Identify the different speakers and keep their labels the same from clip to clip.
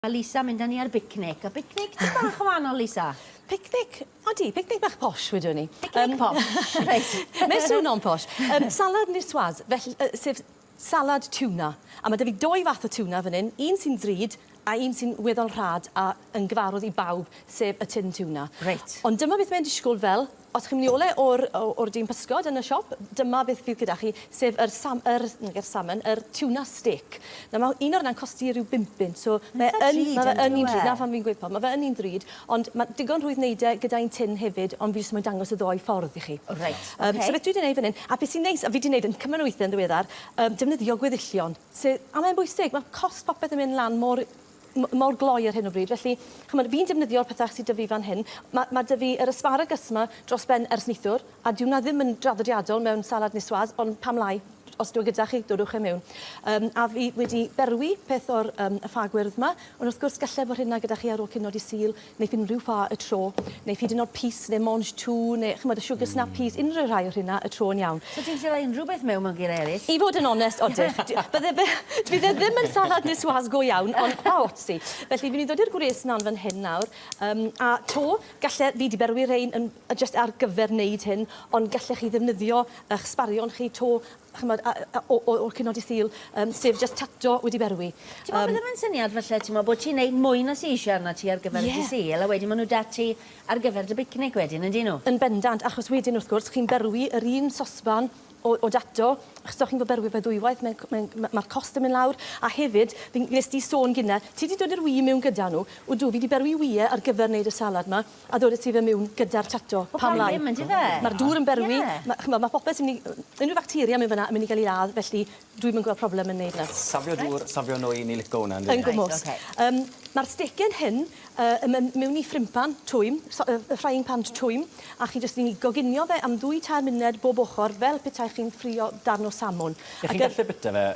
Speaker 1: Mae Lisa mynd â ni ar bicnic. A bicnic tipyn bach yn wahanol, Lisa. Picnic,
Speaker 2: odi, picnic bach posh wedwn ni. Picnic posh,
Speaker 1: reit. Mae'n swnio'n posh.
Speaker 2: Um, salad niçoise, felly, uh, sef salad tuna. A mae 'da fi doi fath o tuna fan hyn, un sy'n ddrud a un sy'n weddol rhad a yn gyfarwydd i bawb, sef y tin tuna. Reit. Ond dyma beth
Speaker 1: mae'n disgwyl
Speaker 2: fel Os chi'n mynd i ole o'r o o'r dyn pysgod yn y siop, dyma beth fydd gyda chi, sef yr sam- yr, nag yw'r salmon, yr tuna stick. Nawr ma' un o reina'n costi ryw bum punt, so mae yn... Ma'n itha drud yndyw e? ...ma' fe yn un drud, 'na pham fi'n gweud pump, ma' fe yn un drud, ond ma' digon rhwydd neud e gyda un tin hefyd, ond fi jyst moyn dangos y ddou ffordd i chi. Reit, ok. Yym, so beth
Speaker 1: dwi 'di neud fan
Speaker 2: 'yn, a be' sy'n neis, a fi 'di neud yn cymaint o withe yn ddiweddar, yym defnyddio gweddillion, sy- a mae'n bwysig, ma' cost popeth yn mynd lan mor m- mor gloi ar hyn o bryd, felly, ch'mod, fi'n defnyddio'r pethau sy 'da fi fan hyn. Ma' ma' 'da fi yr asparagus 'ma dros ben ers neithiwr, a dyw 'na ddim yn draddodiadol mewn salad niçoise, ond pam lai, os dyw e gyda chi, dodwch e miwn. Yym, a fi wedi berwi peth o'r yym y ffa gwyrdd 'ma, ond wrth gwrs, gallai fod rheina gyda chi ar ôl cino Dydd Sul, neu unrhyw ffa y tro, neu hyd yn oed pys neu mange tout neu ch'mod y sugar snappies, unrhyw rhai o rheina y tro yn iawn. So ti'n gallu rhoi unrhyw beth
Speaker 1: mewn mewn geiriau eraill? I fod yn onest, odych.
Speaker 2: Bydde fe... fydd e ddim yn salad niçoise go iawn, ond pa ots ti. Felly, fi'n mynd i ddod i'r gwres lan fan hyn nawr, um, a 'to, galle... fi 'di berwi rhein yn... jyst ar gyfer wneud hyn, ond gallech chi ddefnyddio y'ch sbarion chi 'to, ch'mod, a- a- o- o- o'r cyfnod i Sul, yym, sef jyst tato wedi berwi. T'mo' beth o'dd e'n
Speaker 1: syniad falle t'mo' bo' ti'n neud mwy na seashore arnat ti ar gyfer y Ie. Dydd Sul a wedyn ma' n'w 'da ti ar gyfer dy bicnic wedyn yndyn n'w? Yn bendant achos wedyn wrth
Speaker 2: gwrs chi'n berwi yr un sosban o o dato achos os chi'n fod berwi fe ddwywaith mae'n c- mae'n ma' ma'r cost yn myn' lawr a hefyd fi'n wnest di sôn gynne ti 'di dod i'r ŵyl i miwn gyda n'w. Odw fi 'di berwi ŵyl ar gyfer neud y salad 'ma. A ddod â ti fe miwn gyda'r tato. Pam lai? Wel pam ddim yndyfe? Ma'r dŵr yn berwi. Ie. Ma' ch'mod ma' popeth sy myn' i yy unryw facteria mewn fynna yn myn' i ga'l 'i ladd felly dwi'm yn gwel' problem yn neud 'na. Safio dŵr, safio
Speaker 3: nwy, ni lico wnna yndw? Yn gwmws. Reit oce. Yym
Speaker 2: ma'r stecen hyn yy yn myn' miwn i ffrympan twym so- yy yy frying pan twym a chi jyst yn 'i goginio fe am ddwy tair munud bob ochor fel petai chi'n ffrio darn o salmon. Ie chi'n gallu bita fe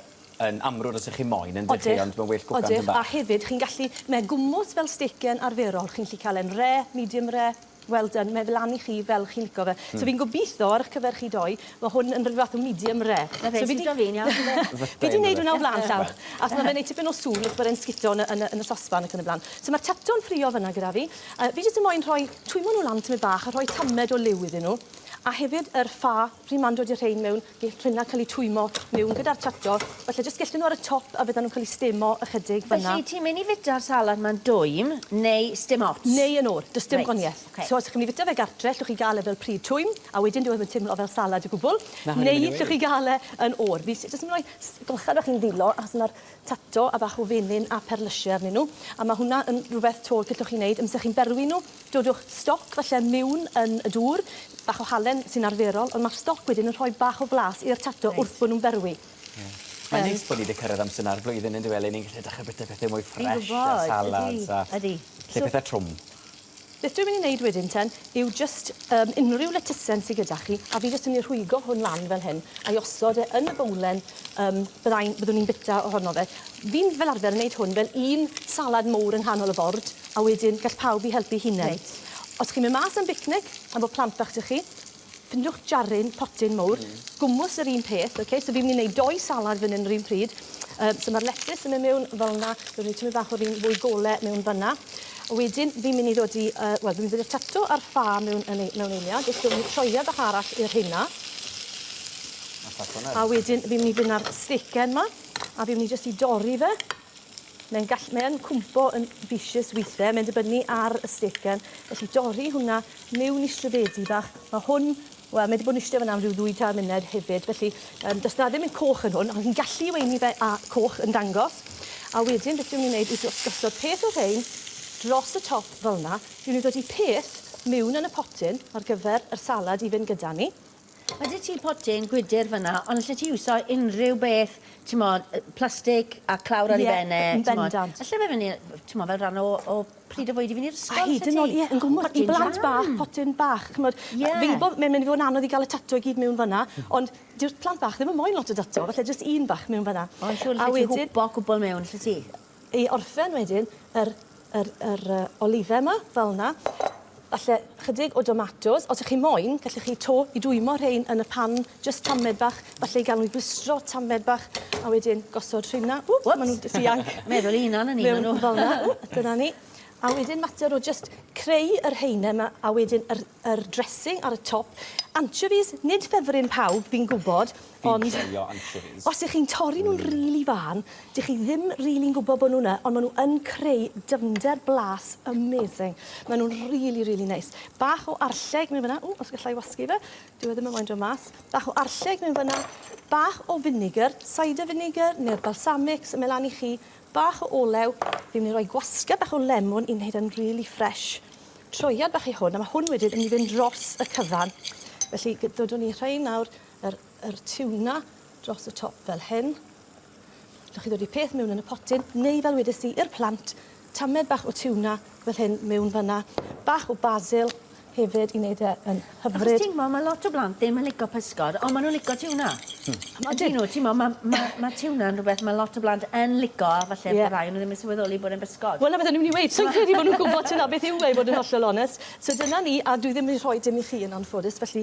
Speaker 3: yn amrwd os ych chi moyn yndych chi ond mae'n well cwcan tipyn bach. Odych a hefyd chi'n gallu,
Speaker 2: mae gwmws fel stecyn arferol chi'n gallu cael e'n rare, medium rare, well done, mae fe lan i chi fel chi'n lico fe. So fi'n gobeithio ar ych cyfer chi doi mae hwn yn rhyw fath o medium rare. Na fe sy'n da fi'n iawn
Speaker 1: yfe? Fi di neud hwnna o
Speaker 2: flan llaw achos mae fe'n neud tipyn o sŵn achos bod e'n sgito yn y sosban ac yn y blaen. So mae'r tato yn ffrio fan'na gyda fi. Fi jyst yn moyn rhoi, twymo nhw lan tipyn bach a rhoi tamed o liw iddyn nhw a hefyd yr ffa, pryd ma'n dod i'r rhein mewn, Gell rheina cael eu twymio mewn gyda'r tractor, falle jyst gellten nhw ar y top a fyddan nhw'n cael eu stemo ychydig fan'na. Felly, ti'n mynd i fwyta'r
Speaker 1: salad 'ma'n dwym neu sdim ots? Neu yn oer, does dim
Speaker 2: gwanieth. Reit, ocê. So, os chi'n mynd i fwyta fe gartre, allwch chi gael e fel pryd twym, a wedyn dyw e ddim yn teimlo fel salad o gwbl. Ma' hwn yn mynd i weud. Neu allwch chi gael e yn oer. Fi jyst yn rhoi s- golchad bach i'n ddwylo, achos ma'r tato a bach o fenyn a perlysie arnyn nhw, a ma' hwnna yn rwbeth 'to gellwch chi neud amser chi'n berwi nhw, Dodwch stoc falle miwn yn y dŵr, bach o halen sy'n arferol, ond mae'r stoc wedyn yn rhoi bach o flas i'r tato wrth bod nhw'n berwi. Mae'n neis
Speaker 3: bod ni 'di cyrraedd amser 'na'r flwyddyn yn dyw e le ni'n gallu dechrau bwyta pethe mwy ffresh a salads a... Ydi, ydi. ...lle pethe trwm. Beth dwi'n mynd
Speaker 2: i neud wedyn ten yw jyst yym unrhyw letysen sy gyda chi a fi jyst yn myn' i rhwygo hwn lan fel hyn a'i osod e yn y bowlen Yym, byddai'n... byddwn i'n bita ohono fe. Fi'n fel arfer yn neud hwn fel un salad mowr yng nghanol y bord, a wedyn gall pawb i helpu'i hunen. Reit. Os chi'n myn' mas am bicnic efo plant bach 'da chi, ffindiwch jaryn, potyn mowr. Hmm. Gwmws yr un peth, oce? So fi myn' i neud dou salad fyn 'yn yr un pryd. Yym, so ma'r letys yn myn' miwn fel 'na. Fi roi tymed bach o'r un fwy gole miwn fyn 'na. A wedyn fi myn' i ddod i yy, wel, fi myn' i ddod i'r tato a'r ffa miwn yn ei- mewn eiliad. Jyst roi sioea bach arall i'r rheina. A wedyn fi'n myn' i fyn' â'r stecken 'ma a fi'n myn' i jyst i dorri fe. Mae'n gall- mae yn cwmpo yn vicious withe, mae'n dibynnu ar y stecken. Felly dorri hwnna miwn i strydedi bach. Ma' hwn, wel mae 'di bod yn iste fynna am ryw ddwy tair munud hefyd, felly yym do's 'na ddim yn coch yn hwn, ond chi'n gallu weini fe â coch yn dangos. A wedyn beth fi myn' i neud yw jyst gosod peth o rhein dros y top fel 'na. Fi myn' i ddodi peth miwn yn y potyn ar gyfer yr salad i fyn' gyda ni. Ma de ti
Speaker 1: potyn gwydyr fynna ond alle ti iwso unrhyw beth t'mod yy plastic a clawr ar ei ben e t'mod. Ie yn bendant. Alle
Speaker 2: fe fyn' i yy
Speaker 1: t'mod fel rhan o o pryd o fwyd i fyn' i'r ysgol A hyd yn o'd ie yn gwmws
Speaker 2: i blant bach potyn bach ch'mod Ie. Fi'n gwbo mae'n myn' i fod yn anodd i ga'l y tato i gyd mewn fan 'na ond dyw'r plant bach ddim yn moyn lot o dato falle jyst un bach mewn fan 'na. Ond siŵr alle ti hwpo
Speaker 1: cwpwl mewn alle ti? i orffen
Speaker 2: wedyn yr yr yr
Speaker 1: yy
Speaker 2: olive 'ma fel 'na. Falle chydig o domatos. Os 'ych chi moyn gellwch chi to i dwymo rhein yn y pan jyst tamed bach falle i ga'l nw i blistro tamed bach a wedyn gosod rheina. Ww ma' nw'n d- dianc. Meddwl 'u unan o'n i ma' nw. Mewn
Speaker 1: fel 'na. Ww dyna ni.
Speaker 2: A wedyn mater o jyst creu yr haenen 'ma a wedyn yr yr dressing ar y top. Anchovies nid ffefryn pawb fi'n gwbod Fi'n joio anchovies. Os 'ych chi'n torri nhw'n rili fân, dych chi ddim rili'n gwybod bod nhw 'na, ond ma' nhw yn creu dyfnder blas amazing. Ma' nhw'n rili, rili neis. Bach o arlleg mewn fynna. Ww, os galla i wasgu fe. Dyw e ddim yn moyn dod mas. Bach o arlleg mewn fynna. Bach o vinegar, cider vinegar neu'r balsamic, symud lan i chi. Bach o olew. Fi'n mynd i roi gwasgedd bach o lemwn i wneud e'n rili ffresh. Troiad bach i hwn, a ma' hwn wedyn yn mynd i fynd dros y cyfan. Felly, g- dodwn ni rhein nawr yr yr tiwna dros y top fel hyn. Dych chi ddod i peth mewn yn y potyn, neu fel wedes i, i'r plant, tamed bach o tiwna fel hyn mewn fanna. Bach o basil hefyd i wneud e yn hyfryd. Achos ti'n gwybod, mae lot o blant
Speaker 1: ddim yn licio pysgod, ond maen nhw'n licio tiwna. Hmm. Ydyn nhw, ti'n gwybod, mae ma, ma tiwna'n rhywbeth mae lot o blant yn licio, a falle yeah. rai nhw ddim yn sylweddoli bod e'n bysgod. Wel, na beth o'n i'n mynd i weid, sy'n
Speaker 2: credu bod nhw'n gwybod tyna beth yw e, bod yn hollol onest. So dyna ni, a dwi ddim yn rhoi dim i chi yn anffodus, felly